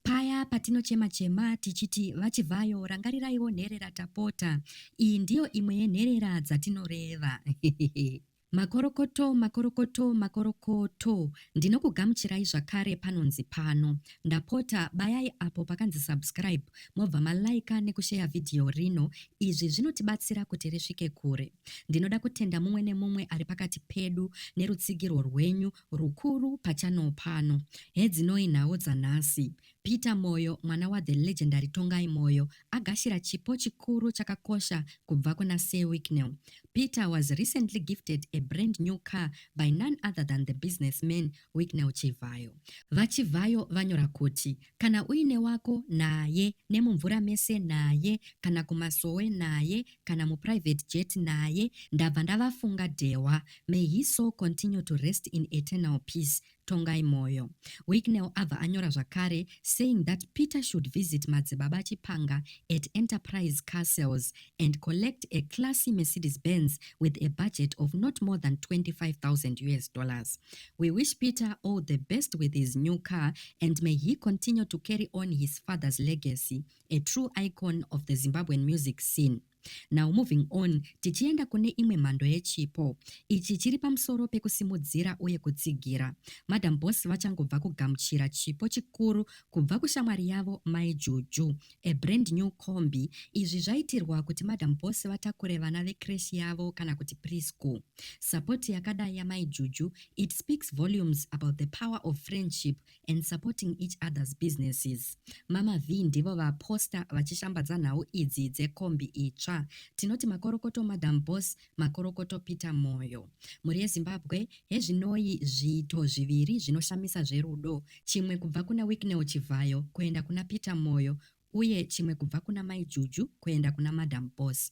Paya patinochema chema tichiti vaChivhayo rangariraiwo nherera tapota. Iyi ndiyo imwe yenherera dzatinoreva. Makorokoto, makorokoto, makorokoto. Ndinokugamuchirai zvakare panonzi pano. Ndapota bayai apo pakanzi subscribe mobva malaika nekusheya vhidhiyo rino. Izvi zvinotibatsira kuti risvike kure. Ndinoda kutenda mumwe nemumwe ari pakati pedu nerutsigirwo rwenyu Rukuru pachannel pano. Hedzinoi nhau dzanhasi. Peter Moyo mwana wa the legendary Tongai Moyo agashira chipo chikuru chakakosha kubva kuna Sir Wicknell. Peter was recently gifted a brand new car by none other than the businessman Wicknell Chivhayo. VaChivhayo vanyora kuti Kana uine wako, naye, nemumvura mese, naye, kana kumasowe, naye, kana muprivate jet, naye, ndabva ndavafunga Dhewa, may his soul continue to rest in eternal peace, Tongai Moyo. Wicknell abva anyora zvakare saying that Peter should visit Madzibaba Chipanga at Enterprise Car Sales and collect a classy Mercedes Benz with a budget of not more than 25,000 US dollars. We wish Peter all the best with his new car and may he continue to carry on his father's legacy, a true icon of the Zimbabwean music scene. now moving on tichienda kune imwe mhando yechipo ichi chiri pamusoro pekusimudzira uye kutsigira madam boss vachangobva kugamuchira chipo chikuru kubva kushamwari yavo mai juju A brand new combi. Izvi zvaitirwa kuti madam boss vatakure vana vecreche yavo kana kuti preschool. Support yakadai yamai Juju it speaks volumes about the power of friendship and supporting each other's businesses. Mama Vee ndivo vaposta vachishambadza nhau idzi dzekombi itsva. Tinoti makorokoto madam boss Makorokoto Peter Moyo. Mhuri yeZimbabwe, Hezvinoi zviito zviviri zvinoshamisa zverudo, chimwe kubva kuna Wicknell Chivhayo kuenda kuna Peter Moyo uye chimwe kubva kuna Mai Juju kuenda kuna Madam Boss.